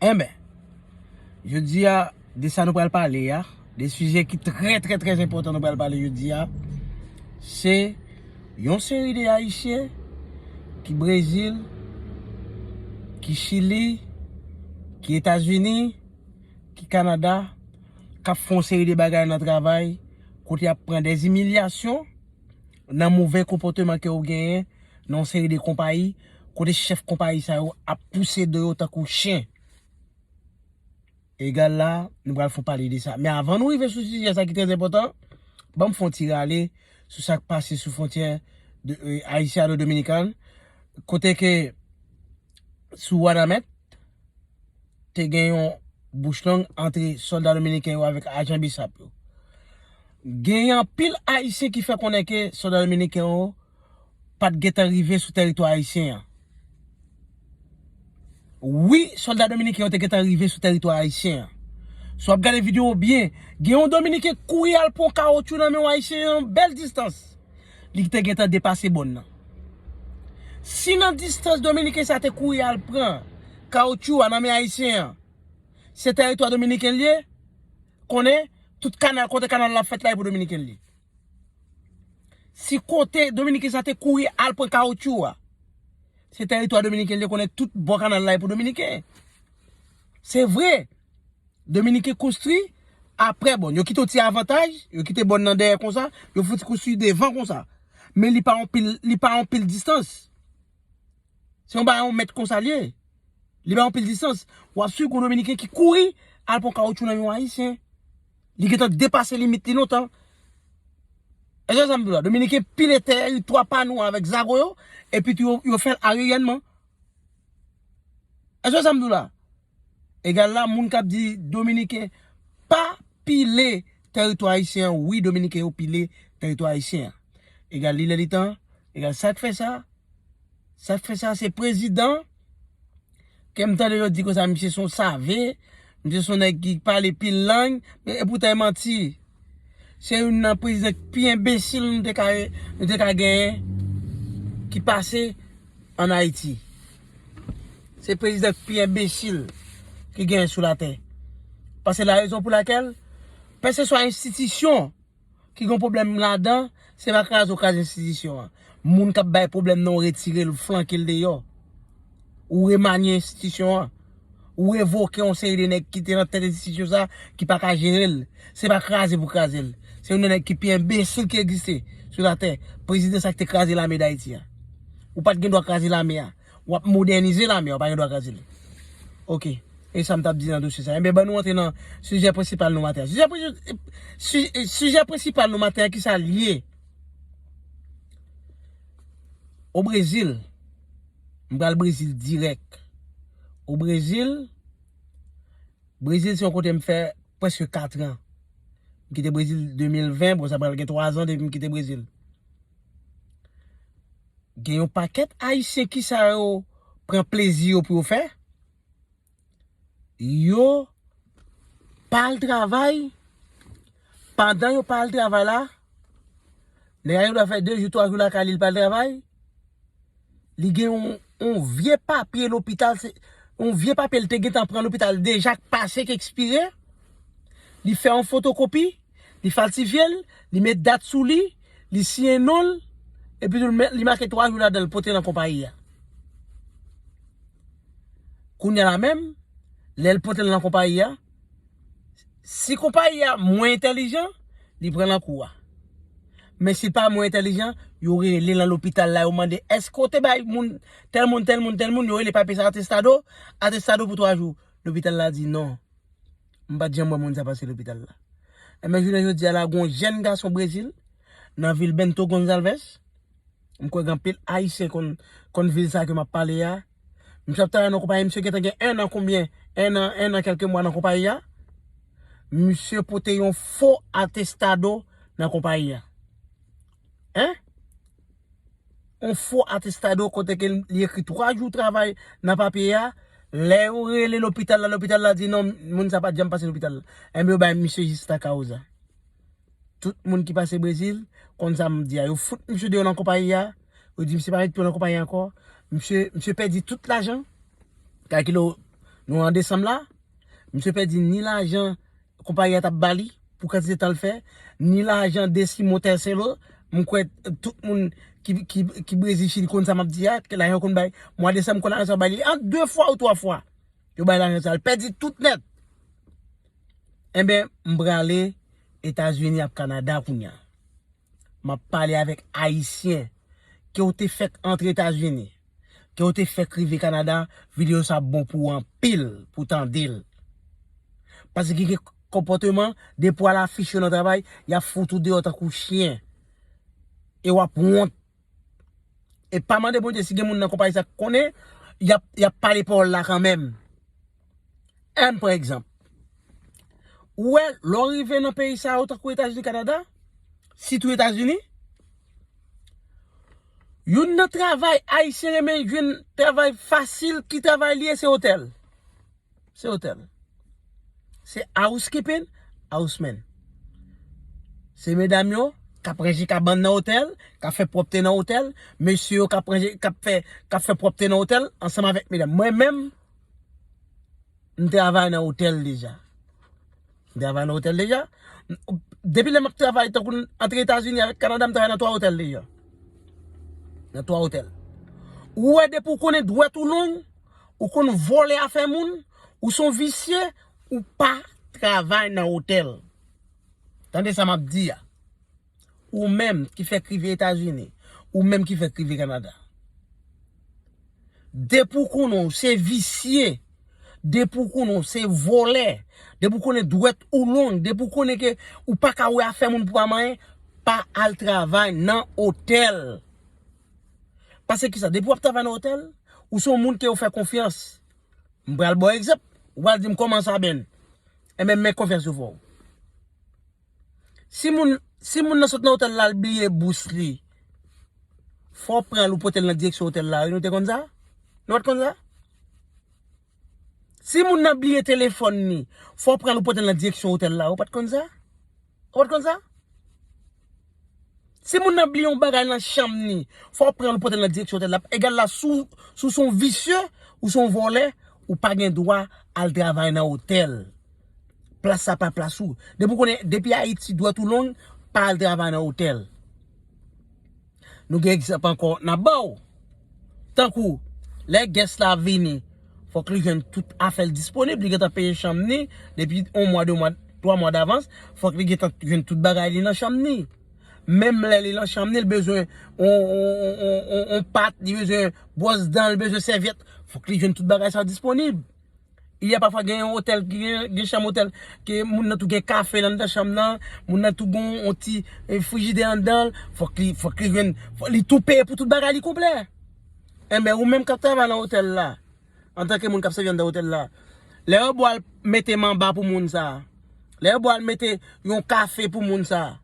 Enben, jodi a, de sa nou pral pale a, de sijè ki trè trè trè enpòtan nou pral pale jodi a, se yon seri de Ayisyen ki Brezil, ki Chili, ki Etazini, ki Kanada, k ap fè yon seri de bagay nan travay, kote y ap pran dèzimilyasyon nan move konpòteman ke ou genyen nan yon seri de konpayi. kote chèf konpayi sa yo ap pouse do yo tankou chen. Egal la, nou pral fon pale de sa. Men avan nou rive sou sijè sa ki trè enpòtan, ban m fon ti rale sou sa k pase sou fwontyè Ayisyano Dominikan, kote ke sou Wanament, te gen yon bouch long antre sòlda dominiken yo avèk ajan Bsap yo. Gen anpil Ayisyen ki fè konnen ke sòlda dominiken yo pat gentan rive sou tèritwa ayisyen an. Wi, sòlda dominiken yo te gentan rive sou tèritwa ayisyen an. Si w ap gade videyo a byen, gen yon dominiken ki kouri al pran yon kawotchou nan men yon ayisyen nan yon bèl distans. Li te gentan depase bòn nan. Si nan distans dominiken sa a te kouri al pran kawotchou a nan men ayisyen an, se tèritwa dominiken li ye, konnen tout kanal, kote kanal la fèt la e pou dominiken li ye. Si kote dominiken sa te kouri al pran kaoutchou wa. Se teritwa dominiken li konnen tout bò kanal la e pou dominiken. Se vre. Dominiken konstri apre bon. Yo kite yon ti avantaj, yo kite bon nan dèyè konsa, yo fouti konstri devan konsa. Men li pa yon pil distans. Se yon ba yon met konsa li. Li pa yon pil distans. Wap sou yon dominiken ki kouri al pran kaoutchou nan yon ayisyen. Li gentan depase limit li lontan. Èske wè sa m di w la? Dominiken pile tè yo, 3 pa nou avèk zago yo, epi tou yo fè l ariyènman. Èske w wè sa m di w la? Egal la, moun k ap di Dominiken pa pile tèritwa ayisyen an, wi Dominiken yo pile tèritwa ayisyen an. Egal li lè li tan, egal sa k fè sa, sa k fè sa se prezidan. Kèm tande yo di konsa misye son save, misye son nèg ki pale pil lang, e poutan e manti. Se youn nan prezidan ki pi enbesil nou te ka nou te ka genyen ki pase an Ayiti. Se prezidan ki pi enbesil ki genyen sou latè. Pase la rezon pou lakèl, kèlkeswa enstitisyon. ki gen yon pwoblèm ladan, se pa kraze ou kraze enstitisyon an. Moun k ap bay pwoblèm nan ou retire l, ou flanke l deyò. Ou remanye enstitisyon an. Ou revoke yon seri de nèg ki te nan tèt enstitisyon sa a ki pa ka jere l. Se pa kraze pou kraze l. Se youn nan nèg ki pi enbesil ki egziste sou latè. Prezidan sa ki te kraze lame Dayiti a. Ou pa t gen dwa kraze lame a. Wap modènize lame a ou pa gen dwa kraze li. Ok. E sa m tap di nan dosye sa. Enben ban nou antre nan sijè prensipal nou maten an. Sijè prensipal nou maten an ki sa l ye? O Brezil, m pral Brezil dirèk. O Brezil, Brezil se yon kote m fè preske 4 an. M kite Brezil 2020, bon sa pral gen 3 an depi m kite Brezil. Gen yon pakèt ayisyen kisa yo pran plezi yo pou yo fè? Yo pa al travay, pandan yo pa al travay la, nèg la gen dwa fè 2 jou 3 jou lakay li li pa al travay, li gen yon vye papye lopital, yon vye papye li te gentan pran lopital deja k pase k ekspire, li fè yon fotokopi, Li falsifye l, li met dat sou li, li siyen non l, epi tou li make 3 jou ladan l pote nan konpayi a. Kounya la menm, lè l pote l nan konpayi a, si konpayi a mwen entèlijan, li pran l nan kou a. Men si l pa mwen entèlijan, yo rele nan lopital la, yo mande, èske w te bay moun, tèl moun, tèl moun, tèl moun, yo rele papye sa atestado, atestado pou 3 jou. Lopital la di non. M pa t janm wè moun sa pase lopital la. Enben jounen jodi a la gen yon jèn gason Brezil nan vil Bento Gonzalvez. M kwè gen anpil Ayisyen konn vil sa ke m ap pale a. Misye ap travay nan konpayi. Misye gentan gen ennan konbyen, ennan, ennan kèlke mwa nan konpayi a. Misye pote yon fo atestado nan konpayi a. Hein? On fo atestado kote ke li ekri 3 jou travay nan papye a, lè yo rele lopital la, lopital la di non moun sa pat janm pase lopital la. Enben yo bay misye jista kauza. Tout moun ki pase Brezil konn sa m ap di a. Yo fout misye deyò nan konpayi a, yo di misye pa mèt pi yo nan konpayi a ankò. Misye, misye pèdi tout lajan. Kalkile w, nou an desanm la, misye pèdi ni lajan. konpayi a t ap ba li pou kantite tan l fè, ni lajan desi motè selo. M kwè tout moun ki Brezil, Chili konn sa m ap di a, ke lajan yo konn bay. Mwa desanm m konn lajan sa yo bay li an de fwa ou twa fwa. Yo bay lajan sa l pèdi tout nèt. Enben, m prale Etazini ak Kanada kounya. Map pale avèk ayisyen ke ou te fèk antre etazini ke ou te fèk rive kanada video sa ap bon pou ou anpil pou tandel pase gen kèk konpòteman depi w al afich yo nan travay yap fout ou deyò tankou chyen e wap wont. E pa mande Bondye si gen moun nan konpayi sa ki konnen, y ap pale pawòl la kanmenm. Èm pran egzanp. Ou wè, lè w rive nan peyi sa yo tankou Etazini, Kanada, sitou Etazini, youn nan travay Ayisyen renmen jwenn travay fasil, ki travay li ye? Se otèl. Se otèl. Se housekeeping, housemen. Se medam yo k ap ranje kabann nan otèl, k ap fè pwòpte nan otèl, mesye yo k ap ranje, k ap fè, k ap fè pwòpte nan otèl ansanm avèk medam. Mwen menm, m travay nan otèl deja. M travay nan otèl deja. Depi lè m ap travay tankou n antre Etazini avèk Kanada m travay nan twa otèl deja. Nan twa otèl. Ou wè depi ou konnen dwèt ou long, ou konn vòlè afè moun, ou son visye, ou pa travay nan otèl. Tande sa map di a. Ou menm ki fèk rive Etazini, ou menm ki fèk rive Kanada. Depi ou konnen ou se visye, depi ou konnen ou se vòlè, depi ou konnen dwèt ou long, depi ou konnen ke ou pa ka wè afè moun pou pa manyen, pa al travay nan otèl. Pase kisa? Depi wap travay nan otèl, ou se yon moun ke yo fè konfyans. M pral baw egzanp, ou pral dim kòman sa Ben? Enben men konfyans yo fè w. Si moun, si moun nan sot nan otèl la al bliye bous li, fò w pran l ou pote l nan direksyon otèl la wi, nou te konn sa? Nou pat konn sa? Si moun nan bliye telefòn li, fò w pran l ou pote l nan direksyon otèl la. Ou pa t konn sa? Ou pa t konn sa? Si moun nan bliye yon bagay nan chanm li, fò w pran l ou pote l nan direksyon otèl la. Egal la si w se yon visye, ou se yon vòlè, ou pa gen dwa al travay nan otèl. Plas sa pa plas ou. Depi w konnen, depi Ayiti dwèt ou long, pa al travay nan otèl. Nou gen egzanp ankò n ap ba w. Tankou, lè guest la ap vini, fòk li jwenn tout afè l disponib. Li gentan peye chanm ni depi yon mwa, de mwa, twa mwa davans. Fòk li gentan jwenn tout bagay li nan chanm ni. Menm lè li nan chanm ni, li bezwen yon pat, li bezwen bwòs dan, li bezwen sèvyèt. Fòk li jwenn tout bagay sa disponib. Il ya pafwa gen yon otèl ki gen chanm otèl ke moun nan tou gen kafe nan anndan chanm nan, moun nan tou gen yon ti frijidè anndan l, fòk li, fòk li jwenn, fòk li tou peye pou tout bagay li konplè. Enben ou menm k ap travay nan otèl la, antanke moun k ap sèvi anndan otèl la, lè yo bo al mete manba pou moun sa, lè yo bo al mete yon kafe pou moun sa,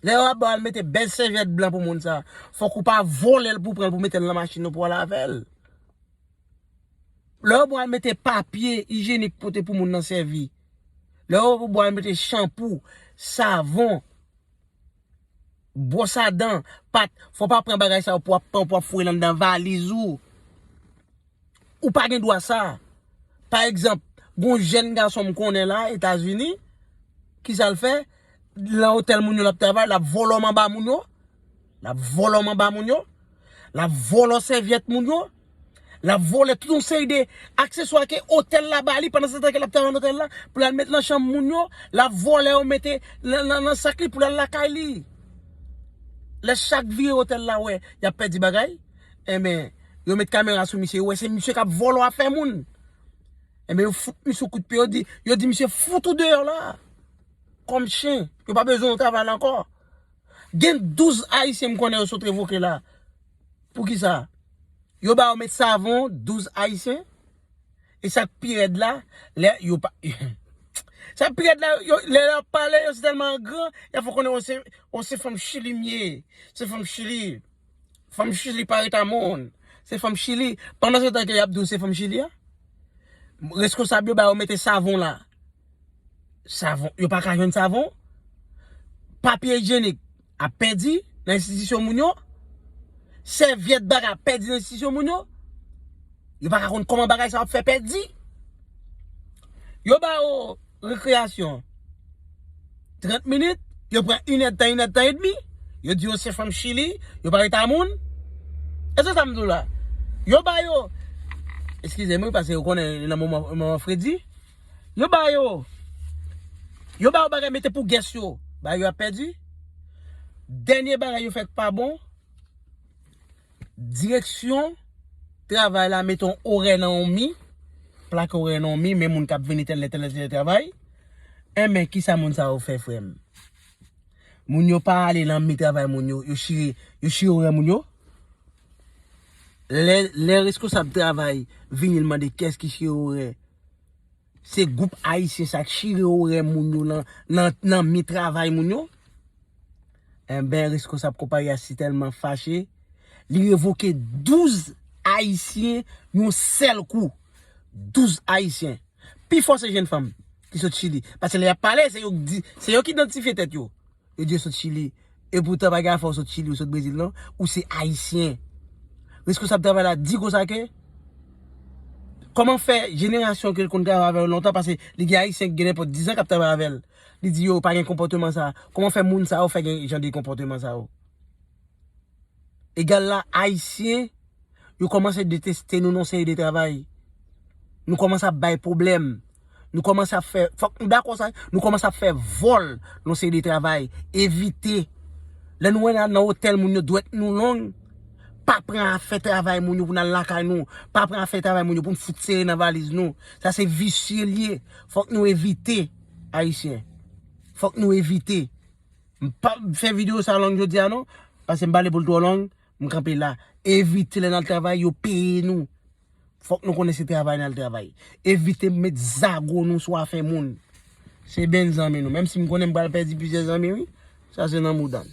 lè yo bo al mete bèl sèvyèt blan pou moun sa, fòk ou pa vole l pou w pran l pou w mete l nan machin ou pou w al avè l. Lè yo pral mete papye ijenik pote pou moun nan sèvi. Lè yo pral mete chanpou, savon, bwosadan, pat, fò pa pran bagay sa yo pou ap pran pou ap foure lan nan valiz ou. Ou pa gen dwa sa. Pa egzanp, gon jèn gason m konnen la, Etazini, ki sa l fè? Lan otèl moun yo l ap travay, l ap vòlò manba moun yo. Lap vòlò manba moun yo, lap vòlò sèvyèt moun yo, lap vòlò tout yon seri de akseswa ke otèl la ba li pandan se tan ke lap travay nan otèl la pou lal met nan chanm moun yo, lap vòlò yo mete nan sak li pou lal lakay li. Lè chak vire otèl la wè yap pèdi bagay, enben yo met kamera sou misye, yo wè se misye kap vòlò afè moun. Enben yo fout misye yon kout pye, yo di, yo di misye fout ou deyò la. Kòm chen, yo pa bezwen ou travay la ankò. Gen 12 ayisyen m konnen yo sot revoke la. Poukisa? Yo ba yo met savon 12 ayisyen. E sa k pi rèd la, lè yo pa Sa k pi rèd la, lè yo ap pale yo se tèlman angran, y ap fè w konnen se fanm chili m ye. Se fanm chili. Fanm chili pa reta moun. Se fanm chili. Pandan se tan ke yap diw se fanm chili a. Reskonsab yo ba yo mete savon la. Savon. Yo pa ka jwenn savon. Papye ijenik ap pedi nan enstitisyon moun yo. Sevyet baga ap pedi nan enstitisyon moun yo. Yo pa ka konn koman bagay sa ap fe pedi. Yo ba yo. Rekreyasyon 30 minit, yo pran inèdtan, inèdtan edmi, yo di yo se fanm chili, yo pa reta moun. E se sa m di w la. Yo ba yo, eskize m wi pase ou konnen nan moman fredi, yo ba yo, yo ba yo bagay mete pou gès yo, bagay yo ap pèdi. Dènye bagay yo fè k pa bon. Direksyon travay la mete yon orè nan yon mi, plake orè nan yon mi, men moun kap vini tèlè tèlè tèlè travay, enben kisa moun sa yo fè frè m? Moun yo pa ale nan mi travay moun yo, yo chire, yo chire orè moun yo? Lè, lè reskonsab travay vini l mande kès ki chire orè? Se group ayisyen sa k chire orè moun yo nan mi travay moun yo. Enben reskonsab konpayi a si tèlman fache, li revoke 12 ayisyen yon sèl kou. 12 ayisyen. Pi fò se jenn fanm ki sot chili. Pase lè y ap pale se yo k di, se yo k idantifye tèt yo. Yo di yo sot chili. E poutan pa gen afè ou sot chili ou sot brezil non. Ou se ayisyen. Reskonsab travay la di konsa ke. Koman fè jenerasyon ke l konn travay avè yo lontan pase li gen ayisyen ki gen nenpòt dizan kap travay avè l. Li di yo pa gen konpòteman sa. Koman fè moun sa yo fè gen jan de konpòteman sa yo. Egal la ayisyen yo komanse deteste nou nan seri de travay. Nou komanse ap bay pwoblèm. Nou komanse ap fè, fòk nou dakò sa, nou komanse ap fè vòl nan seri de travay. Evite, lè nou wè nan otèl moun yo dwèt nou long, pa pran afè travay moun yo pou nan lakay nou, pa pran afè travay moun yo pou nou fout sere nan valiz nou. Sa se visye li ye. Fòk nou evite ayisyen. Fòk nou evite. M pap fè video sa long jodia non, pase m pale pou l twò long, m kanpe la. Evite lè n al travay yo peye nou. Fòk nou konnen se travay n al travay. Evite met zago nou sou afè moun. Se benn zanmi nou, menm si m konnen m pral pèdi plizyè zanmi wi, sa se nan mouda n.